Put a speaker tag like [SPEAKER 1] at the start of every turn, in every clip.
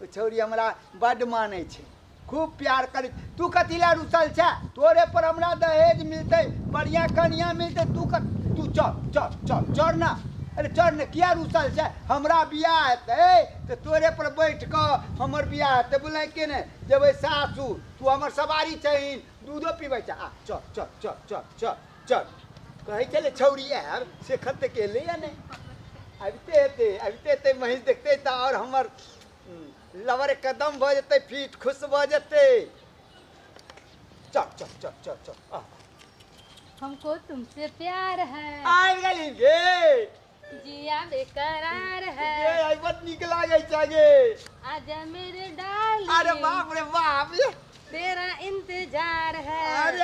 [SPEAKER 1] ओ छौरी हमरा बड्ड मानै छै खूब प्यार करै तू कथी लए रुसल छै तोरे पर हमरा दहेज मिलतै बढ़िया कनिया मिलतै तू कत तू चल चल चल चल ना अरे चल ने किया रुसल छै हमरा बियाह हेतै तऽ तोरे पर बैठ कऽ हमर बियाह हेतै बुझलै के ने जेबै सासुर तू हमर सवारी छहीन दूधो पीबै छै आ चल चल चल चल चल चल कहै छलै छौरी आयल से खत तऽ गेलै या नहि अबिते हेतै अबिते हेतै महींस देखतै तऽ आओर हमर उम, लवर कदम भऽ जेतै फीट खुश भऽ जेतै चल चल चल चल चल आ, हमको तुमसे प्यार है आबि गेली गे जिया बेकरार है ये आई बहुत निक लागे छगे आजा मेरे डार्लिंग अरे बाप रे बाप ये तेरा इंतजार है अरे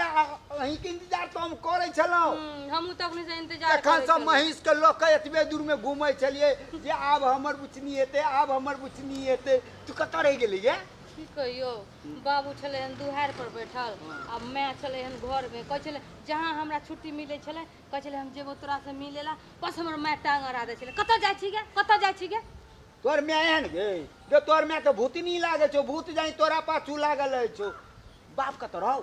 [SPEAKER 1] अही के इंतजार तो हम करे छलो हम्म, हमहू तो अपने से इंतजार तखन से महिष के लोक एतबे दूर में घूमे छलिए जे आब हमर बुचनी हेते आब हमर बुचनी हेते तू कत रह गेली गे की कहियो बाबू छले हन दुहार पर बैठल आ मैं छले हन घर में कह छले जहाँ हमरा छुट्टी मिले छले कहै छलै हम जेबो तोरा से मिले ला बस हमर माय टांग अड़ा दै छलै कतऽ जाइ छी गे कतऽ जाइ छी गे तोर माय एहन गे गे तोर माय के भूतनी लागे छौ भूत जाई तोरा पाछू लागल अछि छौ बाप कतऽ रहौ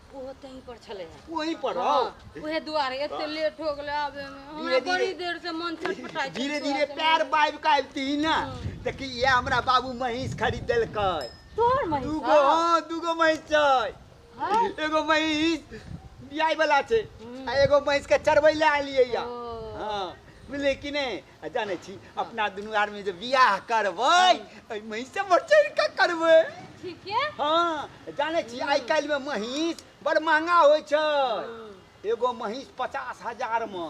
[SPEAKER 1] ओहो तहीं पर छलै हँ। ओही पर रहौ हाँ, उहे दुआरे एते लेट हो गेलै आबे में हमरा धीरे- बड़ी धीरे- देर से मन छटपटाइ छै धीरे धीरे तोरा से पैर बाबि के आबिती ने देखी ये हमरा बाबू महींस खरीद देलकै तोर महींस दूगो हाँ दूगो महींस छै हाँ? एगो महीस बियाई वाला छै आ एगो महीस के चरबै ले आलिए या हां बुझलिए कि नै आ जानै छी अपना दुनू आदमी जे बियाह करबै ओइ महीस से बढ़ चढ़ के करबै ठीक है हां जानै छी आइ काल्हि में महीस बड़ महंगा होइ छै एगो महीस पचास हजार में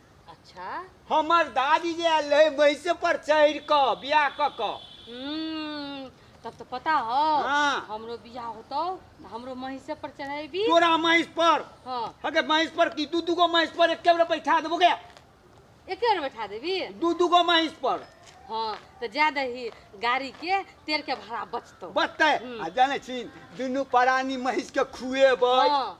[SPEAKER 1] अच्छा हमर दादी जे आयल रहे भैंसे पर चढ़ क बियाह क क हम्म, तब तो पता हो हाँ। हमरो बियाह होतो तो हमरो महिषे पर चढ़ेबी तोरा महिस पर हाँ अगर महिस पर की दू दूगो महिस पर एक कैमरा बैठा देबो गया एक बेर बैठा देबी दू दूगो महिस पर हाँ तो जा दही गाड़ी के तेल के भाड़ा बचतो बचते आ जाने छी दुनू परानी महिस के खुएबै हाँ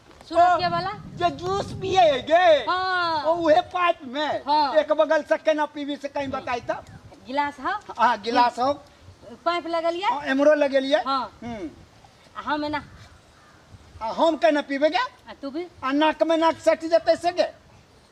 [SPEAKER 1] सुनो के वाला जे जूस पिए है गे हाँ। ओ उहे पाइप में हाँ। एक बगल से केना पीवी से कहीं बताई तो गिलास है आ गिलास हो पाइप लगलिए आ, एमरो लगेलिए हाँ। हम्म। आ हम ना आ हम केना पीबे गे आ तू भी आ नाक में नाक सट जते से गे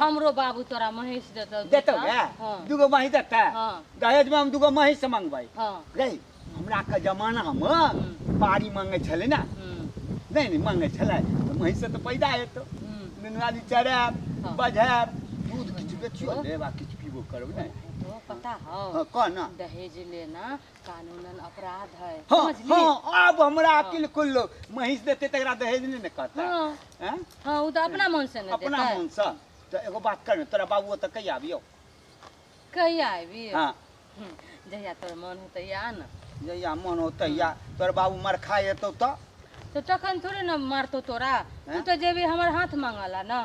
[SPEAKER 1] हमरो बाबू तोरा महींस देतौ देतौ दूटा। ने हाँ, दूगो महींस देतै हाँ, दहेजमे हम दूगो महींस मंगबै हाँ, रे हमरा के जमानामे बाड़ी मंगै छलै ने हम्म, नहि नहि मंगै छलै तऽ महींस तऽ पैदा हेतौ हम्म। नुनवाली चरायब हाँ। बझायब दूध किछु बेचियो लेब आ किछु पीबो करब ने तो पता हौ हाँ कह ने दहेज लेना कानूनन अपराध है हाँ समझली हाँ अब हमरा हाँ। अकिल खुललो महींस देते तकरा दहेज नहीं न कहता हाँ हैं? हाँ उ तो अपना मन से न अपना देता मन से तो एगो बात कर न, तोरा बाबू ओतऽ कहिया आबियो कहिया आबी हाँ हम्म, जहिया तोर मन होते या न जहिया मन होतै या तोर बाबू मरखा एतौ तऽ तो तखन थोड़े न मारतो तोरा तू हैं? तो जेबी हमर हाथ मांगला न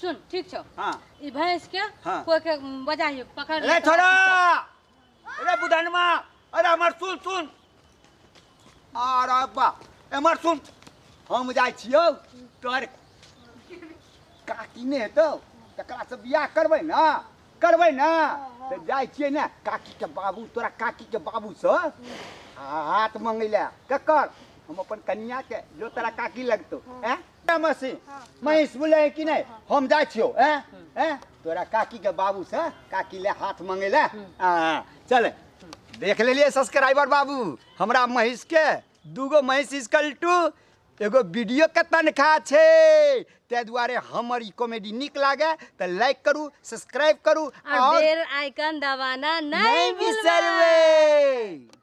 [SPEAKER 1] सुन ठीक छौ हाँ ई भैंस के हाँ। कोई के बजाइयो पकड़ अरे ले छोड़ा अरे बुधनमा अरे हमर सुन सुन अरे बा हमर सुन हम जाइ छियौ तोहर काकी ने हेतौ तकरा से बियाह करबै ने करबै ने तऽ जाइ छियै ने काकी के बाबू तोरा काकी के बाबू से हाथ मंगै ले ककर हम अपन कनिया के जो तोरा काकी लगतौ हैं मसी महिष बुले है कि नहीं हम जा छियो ए ए तोरा काकी के बाबू से काकी ले हाथ मांगे ले आ चल देख लेलिए सब्सक्राइबर बाबू हमरा महिष के दूगो महिष इसकल टू एगो वीडियो के तनख्वाह छै ताहि दुआरे हमर ई कॉमेडी नीक लागे तऽ लाइक करू सब्सक्राइब करू और आओर बेल आइकन दबाना नहीं नहीं भूलना बिसरबै